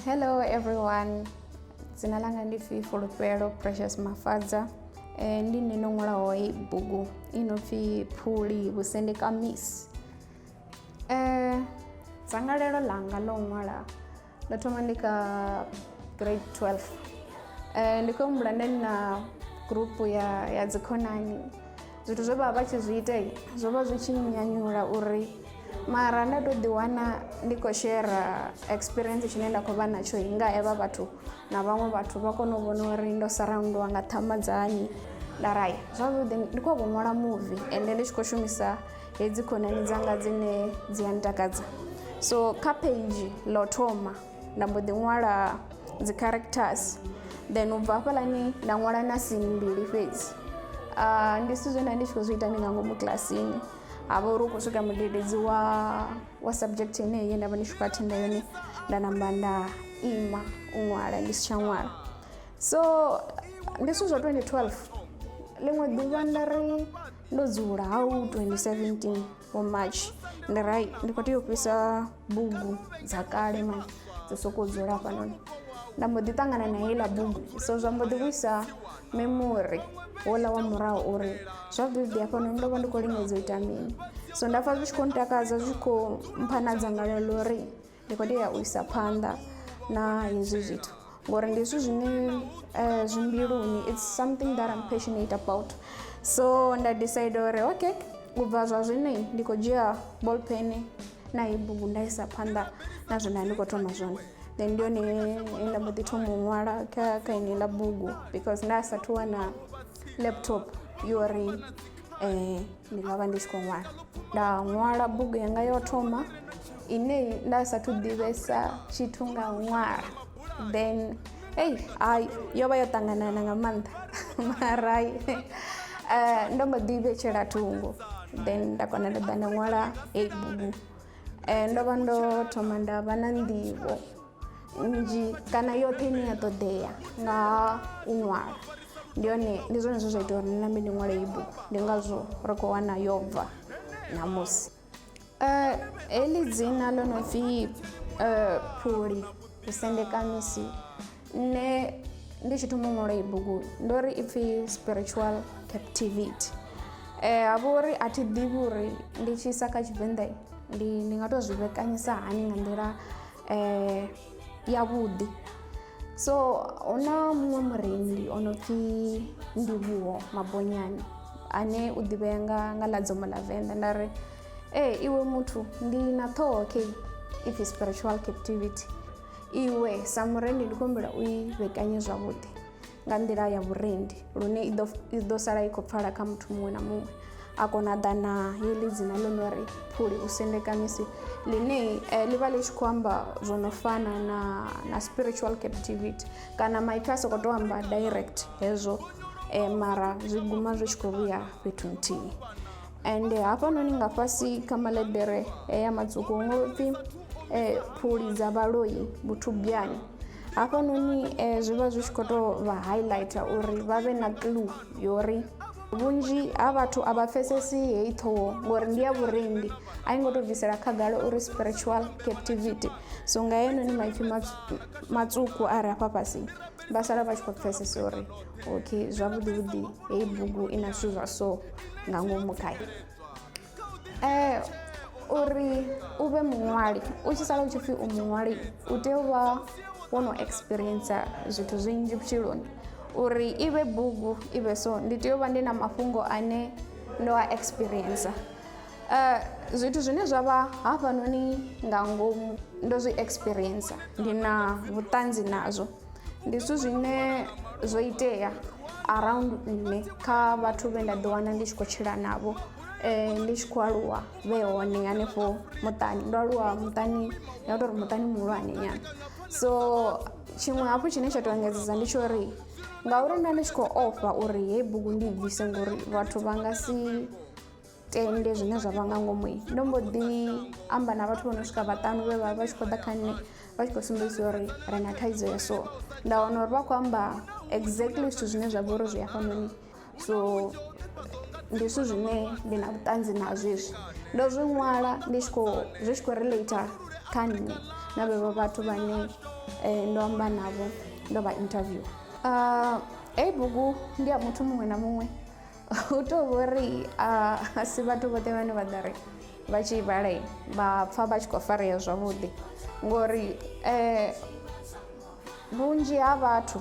Hello everyone. Dzina langa ndi Fi Fulufhelo Precious Mafadza. Eh ndi nne no ṅwalaho i bugu i no pfi Phuli Vhusendeka Miss. Eh dzangalelo ḽanga ḽo ṅwala Ndo thoma ndi kha grade 12 um ndi khou humbula nda ndi na gurupu ya ya dzikhonani zwithu zwe vha vha vha tshi zwi ita zwo vha zwi tshi nyanyula uri mara nda tou ḓiwana ndi khou shera experience tshine nda khou vha natsho nga evha vhathu na vhaṅwe vhathu vha kone u vhona uri ndo saraundiwa nga ṱhama dzanyi nda rai zwavhuḓi ndi khou vho ṅwala muvi ende ndi tshi khou shumisa hedzi khonani dzanga dzine dzi a ntakadza so kha page ḽa u thoma nda mbo ḓi ṅwala dzi characters then u bva hafhalani nda ṅwala na sini mbili fhedzi uh, ndi zwithu zwe nda ndi tshi khou zwi ita ndi nga ngomu kilasini ha vha uri u khou swika mudededzi wa wa subject yeneyi ye nda vha ndi tshi khou athenda yone nda namba nda ima u ṅwala ndi si tsha ṅwala so ndi zwithu zwa 2012 ḽiṅwe ḓuvha nda ri ndo dzula ha u 2017 wa march ndi ri ndi khou tea u fhisa bugu dza kale mani dzo sokou dzula hafhanoni nda mbo ḓi ṱangana na heiḽa bugu so zwa mbo ḓi vhuisa memori wola wa murahu uri zwa vividi hafhanoni ndo vha ndi khou lingedza u ita mini so nda pfha zwi tshi khou ntakadza zwi khou mpha na dzangalelo ḽa uri ndi khou tea u isa phanḓa na hezwi zwithu ngori ndi zwithu zwine eh, zwi mbiluni its something that im passionate about so nda decide uri okay u bva zwa zwino ndi khou dzhia ball pen na i bugu nda isa phanḓa na zwine ndi khou thoma zwone then ndi yone nda mbo ḓi thoma u ṅwala kha kha ine ḽa bugu because nda sathu wana laptop yori eh, ndi nga vha ndi si khou ṅwala nda ṅwala bugu yanga yo thoma ine nda sathu ḓivhesa tshithu nga u ṅwala then ei hayi yo vha yo ṱanganana nga maanḓa marai eh, ndo mbo ḓi vhetshela thungo then nda kona nda ḓa nda ṅwala heyi bugu eh, ndo vha ndo thoma nda vha na nḓivho nnzhi kana yoṱhe ine ya ṱoḓea nga u ṅwala ndi yone ndi zwone zwe zwa ita uri nṋe ndi ṅwale iyi bugu ndi ngazwo ri khou wana yo bva ṋamusi um heḽi dzina ḽo no pfhi um phuli vhusendekamisi nṋe ndi tshi thoma ṅwala iyi bugu ndo ri i pfhi spiritual captivity um ha vha uri a thi ḓivhi uri ndi tshi isa kha tshivenḓa ndi ndi nga tou zwi vhekanyisa hani nga nḓila eh, yavhuḓi so hu na muṅwe murendi o no pfhi ndivhuho mabonyani ane u ḓivhea nga nga ḽa dzomo ḽa venḓa nda ri ee iwe muthu ndi na ṱhoho okay if spiritual captivity iwe sa murendi ndi khombela u i vhekanye zwavhuḓi nga nḓila ya vhurendi lune i ḓo i ḓo sala i khou pfala kha muthu muṅwe na muṅwe a kona ḓa na heḽi dzina ḽo no ri phuli u sendekamisi ḽine eh, ḽi vha ḽi tshi khou amba zwo no fana na na spiritual captivity kana maipfi a sokou tou amba direct hezwo eh, mara zwi guma zwi tshi khou vhuya fhethu nthihi and hafhanoni nga fhasi kha maḽeḓere ya matswuku hu ngo pfhi eh, phuli dza vhaloi vhuthubyani hafhanoni eh, zwi vha zwi tshi khou tou vha highlighter uri vha vhe na clue yori vhunzhi ha vhathu a vha pfesesi heyi ṱhoho ngori ndi ya vhurendi a i ngo tou bvisela khagala uri spiritual captivity so nga yenoni maipfhi matswuku a re afha fhasi vha sala vha tshi khou pfesesa uri okay zwavhuḓi vhuḓi heyi bugu i na zwithu zwa so nga ngomu khayo eh uri u vhe muṅwali u tshi sala u tshi pfhi u muṅwali u tea u vha wo no experience zwithu zwinzhi vhutshiloni uri i vhe bugu i vhe so ndi tea u vha ndi na mafhungo ane ndo a experience Uh, zwithu zwine zwa vha hafhanoni nga ngomu ndo zwi experiencer ndi na vhuṱanzi nazwo ndi zwithu zwine zwo itea around nne kha vhathu vhe nda ḓiwana ndi tshi khou tshila navho um ndi tshi khou aluwa vhe hone hanefho muṱani ndo aluwa muṱani ya tou ri muṱani muhulwane nyana so tshiṅwe hafhu tshine tsha tou engedzedza ndi tsho uri ngauri nda ndi tshi khou ofha uri heyi bugu ndi i bvise ngori vhathu vha nga si tende zwine zwa vha nga ngomu ndo mbo ḓi amba na vhathu vho no swika vhaṱanu vhe vha vha tshi khou ḓa kha nṋe vha tshi khou sumbedzisa uri ri na thaidzo ya so nda wana uri vha khou amba exactly zwithu zwine zwa vha uri zwi hafhanoni so ndi zwithu zwine ndi na vhuṱanzi nazwo izwi ndo zwi ṅwala ndi tshi khou zwi tshi khou relater kha nṋe na vhevho vhathu vhane eh, ndo amba navho ndo vha interview uh, heyi bugu ndi ya muthu muṅwe na muṅwe u tou vho ri a si vhathu vhoṱhe vhane vha ḓa ri vha tshi i vhala vha pfha vha tshi khou farea zwavhuḓi ngori um vhunzhi ha vhathu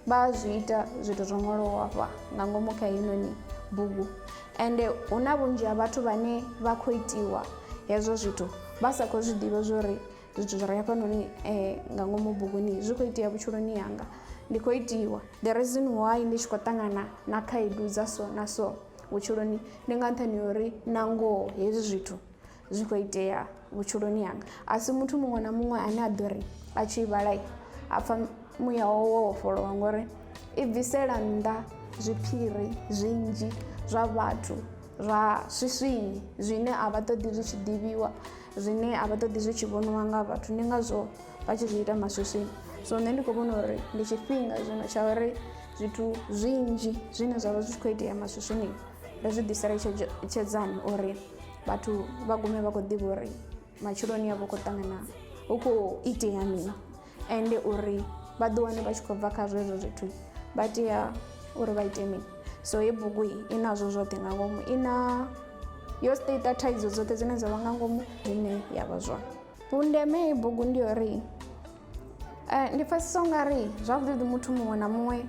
vha zwi ita zwithu zwo ṅwaliwaho hafha nga ngomu kha heinoni bugu ende hu na vhunzhi ha vhathu vhane vha khou itiwa hezwo zwithu vha sa khou zwi ḓivha zwo ri zwithu zwi re hafhanoni um nga ngomu buguni zwi khou itea vhutshiloni hanga ndi khou itiwa the reason why ndi tshi khou ṱangana na khaedu dza so na so vhutshiloni ndi nga nṱhani ha uri na ngoho hezwi zwithu zwi khou itea vhutshiloni hanga a si muthu muṅwe na muṅwe ane a ḓo ri a tshi vhala a pfha muya wawe wo vhofholowa ngori i bvisela nnḓa zwiphiri zwinzhi zwa vhathu zwa swiswini zwine a vha ṱoḓi zwi tshi ḓivhiwa zwine a vha ṱoḓi zwi tshi vhoniwa nga vhathu ndi ngazwo vha tshi zwi ita maswiswini so nṋe ndi khou vhona uri ndi tshifhinga zwino tsha uri zwithu zwinzhi zwine zwa vha zwi tshi khou itea maswiswini ri zwi ḓisela tshedzani uri vhathu vha gume vha khou ḓivha uri matshiloni avho khou ṱangana hu khou itea mini ende uri vha ḓi wane vha tshi khou bva kha zwezwo zwithu vha tea uri vha ite mini so hei bugu i nazwo zwoṱhe nga ngomu i na yo state thaidzo dzoṱhe dzine dza vha nga ngomu ine ya vha zwone vhundeme hei bugu ndi uri eh, ndi pfesesa u nga ri zwavhuḓi muthu muṅwe na muṅwe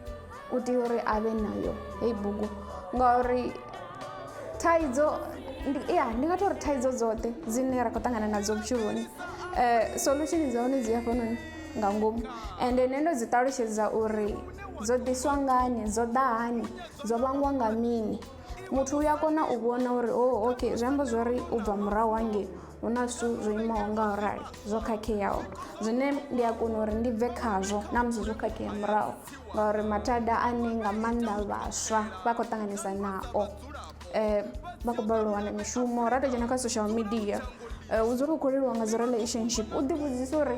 u tea uri a vhe nayo heyi bugu ngauri thaidzo ya ndi nga to ri thaidzo dzoṱhe dzine ra khou ṱangana nadzo vhutshiloni um solution dza hone dzi hafhanoni nga ngomu and nṋe ndo dzi ṱalutshedza uri dzo ḓiswa ngani dzo ḓa hani dzo vhangwa nga mini muthu u a kona u vhona uri o oh, okay zwi amba zwori u bva murahu hangei hu na zwithu zwo imaho nga u rali zwo khakheaho zwine ndi a kona uri ndi bve khazwo na musi zwo khakhea murahu ngauri mathada ane nga maanḓa vhaswa vha khou ṱanganesa nao um vha khou balelwa u wana mishumo ra to dzhena kha social media eh, hu dzula u khou leliwa nga dzi relationship u ḓivhudzisa uri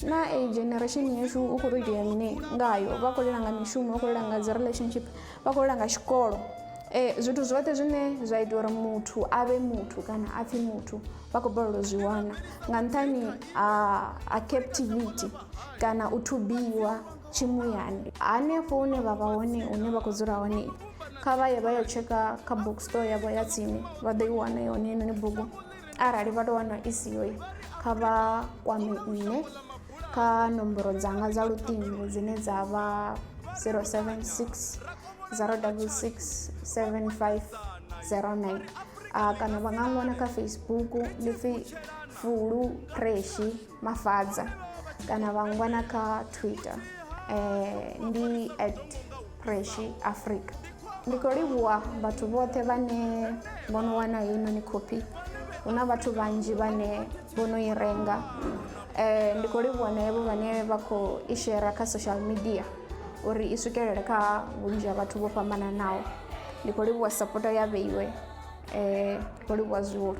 na a generation yashu u khou to itea mini ngayo vha khou lela nga mishumo vha khou lela nga dzi relationship vha khou lela nga tshikolo um zwithu zwoṱhe zwine zwa ita uri muthu a vhe muthu kana a pfhi muthu vha khou balelwa zwi wana nga nṱhani ha captivity kana u thubiwa tshimuyani hanefho hune vha vha hone hune vha khou dzula hone kha vha ye vha yo tsheka kha book store yavho ya tsini vha ḓo i wana yone inoni bugu arali vha tou wana i siyo kha vha kwame nṋe kha nomboro dzanga dza luṱingo dzine dza vha 076 066 7509 kana vha nga ṅwana kha facebook ndi pfi fulu preshi mafadza kana vha ngwana kha twitter um ndi at preshi africa ndi khou livhuwa vhathu vhoṱhe vhane vho no wana heinoni khophi hu na vhathu vhanzhi vhane vho no i renga um ndi khou livhuwa na evho vhane vha khou i shera kha social media uri i swikelele kha vhunzhi ha vhathu vho fhambananaho ndi khou livhuwa sapoto ya vheiwe um ndi khou livhuwa zwihulu